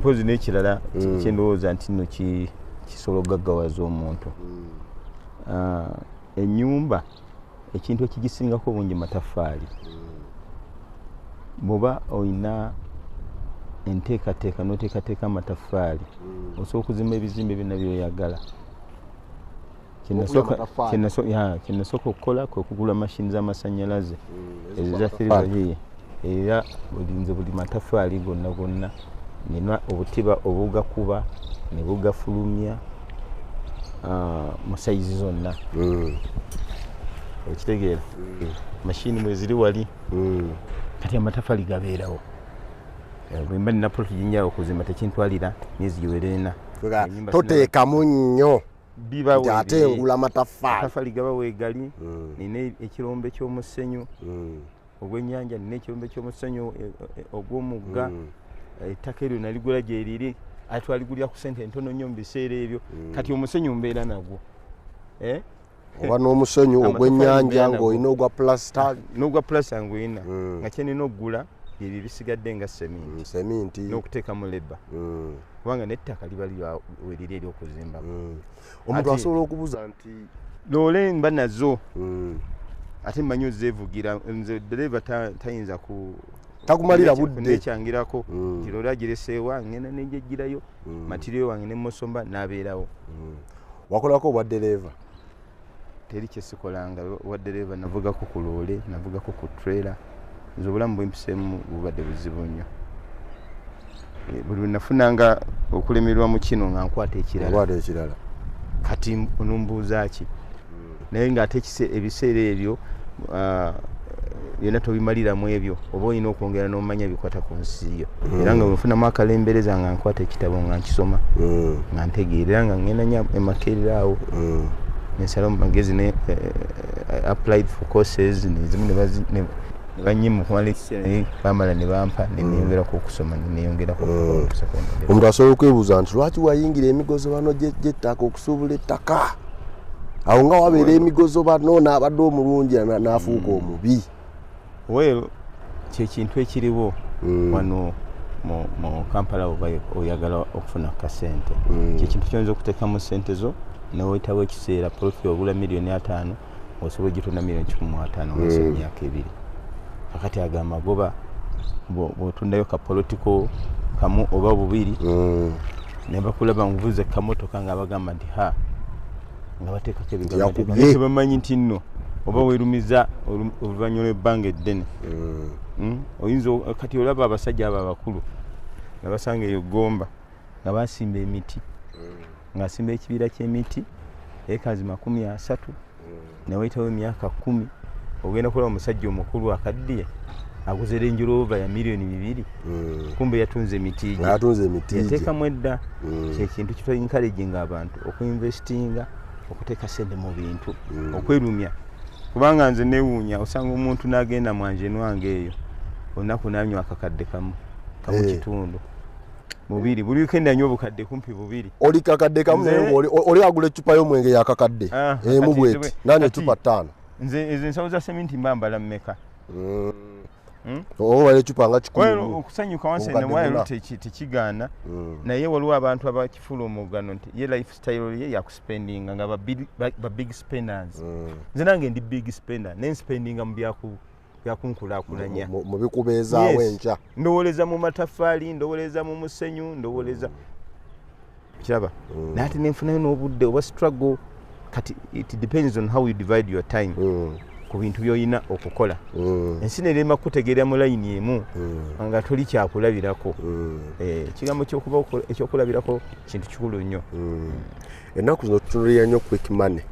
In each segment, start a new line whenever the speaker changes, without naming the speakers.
mpozi nekirala mm. kyendowooza nti no kisobola okugaggawaza omuntu mm. ah, enyumba ekintu ekigisingako obungi mataffaali bwoba olina enteekateeka noteekateeka amataffaali osobola okuzimba ebizimbe byonna byoyagala kyenasooka okukola kwe kugula mashini z'amasannyalaze mm, eza thiribahiye era bulinze buli matafaali gonna gonna nina obutiba obugakuba ne bugafulumya ah, mu sayizi zonna mm. okitegeera mm. mashini mweziri wali kati amatafaali gabeerawo eh, bwemba nina polotinyawo okuzimba tekintwalira myezi giwerena toteekamu nnyo
nti ate
engula
mataffaali gaba
weegali hmm. nina ekirombe ky'omusenyu hmm. ogw'ennyanja nina ekirombe ky'omusenyu e, e, e, ogw'omugga hmm. ettaka eryo naligula gyeriri ate twaligulira ku sente entono nnyo mu biseera ebyo kati omusenyu mbeera nagwo eh?
oba n'omusenyu ogw'ennyanja ng'olina ogwa pulasita n'ogwa pulasita
ng'olina nga kyenina okugula byebyo bisigadde nga seminti mm, seminti
n'okuteekamu leba
mm. kubanga n'ettaka liba weriri eryokuzimba mm. omuntu
asobola okubuza nti loole mba
nazo ate mmanyi ozeevugira nze dereva tayinza ku takumalira
buddekyangirako
nti loole agireseewa ngenda negyejjirayo matiriyo wange nemosomba n'abeerawo
wakolako obwa dereva teri
kyesikolanga wadereeva navugako ku loole navugako ku trailer nze obulamu bwempiseemu bubadde buzibu nnyo eh, buli nafunanga okulemererwa mu kino nga nkwata ekiralakwata ekirala kati onumbuuza ki hmm. naye ngaate ebiseera ebyo ah, byonna tobimalira mu ebyo oba olina okwongera n'omanya bikwata ku nsi yo mm. era nga wenfunamu akalembereza nga nkwata ekitabo nga nkisoma mm. nga ntegeera era nga ngenda nyo emakerera awo mm. nensala mu magezi ne eh, eh, applied for courses nezimu nebanyima okumala ekiseera naye bamala ne bampa neneyongerako okusoma neneyongerako omuntu asobola okwebuuza
nti lwaki wayingira emigozo bano gyettaka okusuubula ettaka awo nga wabeera emigozo bano naabadde omulungi naafuuka hmm. omubi wel
kyekintu ekiriwo hmm. wano mu kampala oba oyagala okufuna kasente hmm. kyekintu kyoyinza okuteekamu sente zo newetawo ekiseera profi ogula miliyoni ataano osobola ogitunda milioni kikumi mu ataano mumaaso mm. emyaka ebiri kakati ago amagoba bwotundayo kapolotiko kamu oba bubiri mm. nebakulaba nvuze kamotoka nga bagamba nti ha nga bateekako ebigabamanyi nti nno oba werumiza oluvanyuma lwebbanga eddene mm. oyinza kati olaba abasajja abo abakulu nabasanga eyo gomba nga basimba emiti ngaasimba ekibiira kyemiti ekazi makumi asatu newayitawo emyaka kumi ogenda kulaba omusajja omukulu akaddiye aguze Range Rover ya milioni bibiri mm. kumbe yatunze emitigi yatunze emitigi yatekamu edda mm. kyekintu kito encouraging abantu okuinvestinga okuteeka sente mu bintu mm. okwerumya kubanga nze newuunya osanga omuntu n'agenda mwanje nwange eyo olunaku nanywa akakadde kamu kamu eh. kitundu bubiri buli weekend anywa obukadde kumpi bubiri oli kakadde kamu
naye oli oli agula ecupa y'omwenge ya kakadde ah, emu bweti nani ecupa ttaano nze ezo ensawo za
seminti mba mbala mmeka mm. hmm?
obala ecupa nga kikulu okusanyuka wansi
newayalo tekigaana mm. naye waliwo abantu abakifula omugano nti ye life style ye yakuspendinga nga ba big spenders mm. nze nange ndi big spender naye nspendinga mu byakubu byakunkulakulanya
mubikubeezaawo enkya ndowoleza mu
mataffaali ndowoleza mu musenyu ndowoleza kiraba mm. naye ate nenfunayo n'obudde oba struggle kati it depends on how you divide your time mm. ku bintu byolina okukola mm. ensi nerema kutegeera mu layini emu nga toli kyakulabirako eh, ekigambo ekyokulabirako kintu kikulu nnyo ennaku
zino tutunulira nnyo quick money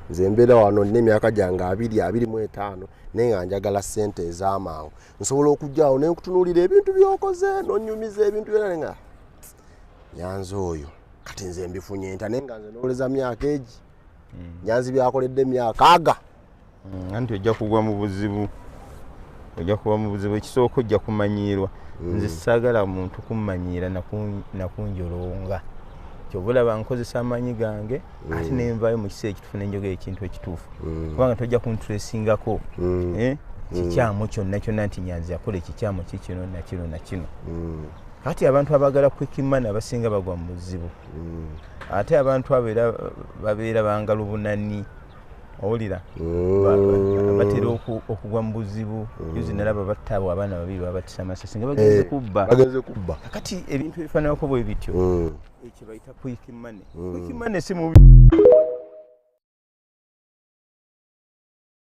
nze mbeera wano nina emyaka gyange abiri abiri mu etaano naye nga njagala ssente ez'amangu nsobola okujjawo naye nkutunuulira ebintu byokoze nonyumiza ebintu byona ne nga nyanzi oyo kati nze mbifunye nta naye nga nze nowoleza myaka egi hmm. nyanzi byakoledde myaka aga mm, anti ojja
kugwa mu buzibu ojja kuba mu buzibu ekisooka ojja kumanyiirwa mm. nze saagala muntu kummanyiira nakunjolonga kyova olaba nkozesa amaanyi gange mm. ate nenvayo mu kiseera ekituufu nenjogera ekintu ekituufu mm. kubanga tojja kuntresingako mm. eh? mm. kikyamu kyonna kyonna nti nyanzi yakola ekikyamu kikino nakino nakino mm. kati abantu abagala kwikimana abasinga bagwa mu buzibu mm. ate abantu abo era babeera bangalubunani owulira mm. batera okugwa mu buzibu yuzi mm. nalaba battaabo abaana babiri babatisa amasasi nga bagenze eh, kubba bagenze kubba kakati ebintu ebifaananako bwe bityo mm. ekyo bayita kwiki mane kwiki mane si mubi